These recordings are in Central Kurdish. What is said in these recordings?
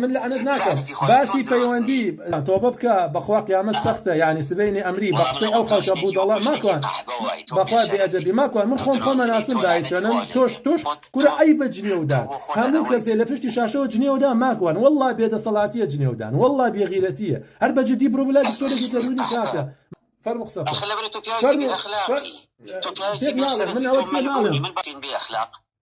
من لەعنەت ناکەم باسی پەیوەندی تۆبە بکە بەخوا قیامەت سەختە یعنی سبەینێ ئەمری بە قسەی ئەو خەڵکە بودەڵە ماکوان بەخوا بێ ئەدەبی ماکوان من خۆم خۆم ناسم دای چەنم تۆش تۆش کورە ئەی بە جنێودان هەموو کەسێ لە پشتی شاشەوە جنێودان ماکوان واللە بێ دەسەڵاتیە جنێودان واللە بێ غیرەتیە هەر بە جدی برۆ بلای دکتۆرێکی دەروونی کاکە فەرموو قسە بکە فەرموو فەرموو تۆ پیاوێکی بێ شەرەفی تۆ منیش بێ ئەخلاق.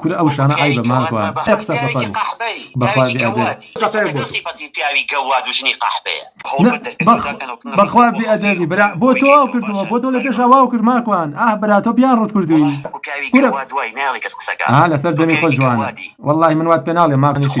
کورە ئەو شتانە عەیبە ماکوان ئەی قسە بە پەروو بەخوا بێ ئەدەبی. سەفەرە بۆ تۆ بەخوا بێ ئەدەبی برا بۆ تۆ واو کردووە بۆ تۆ لە پێشا واو کرد ماکوان ئاه برا تۆ بیان ڕووت کردووی کورە ئاه لەسەر دەمی خۆت جوانە وەڵاهی من وات پێ ناڵێم ماکوان ئیشی.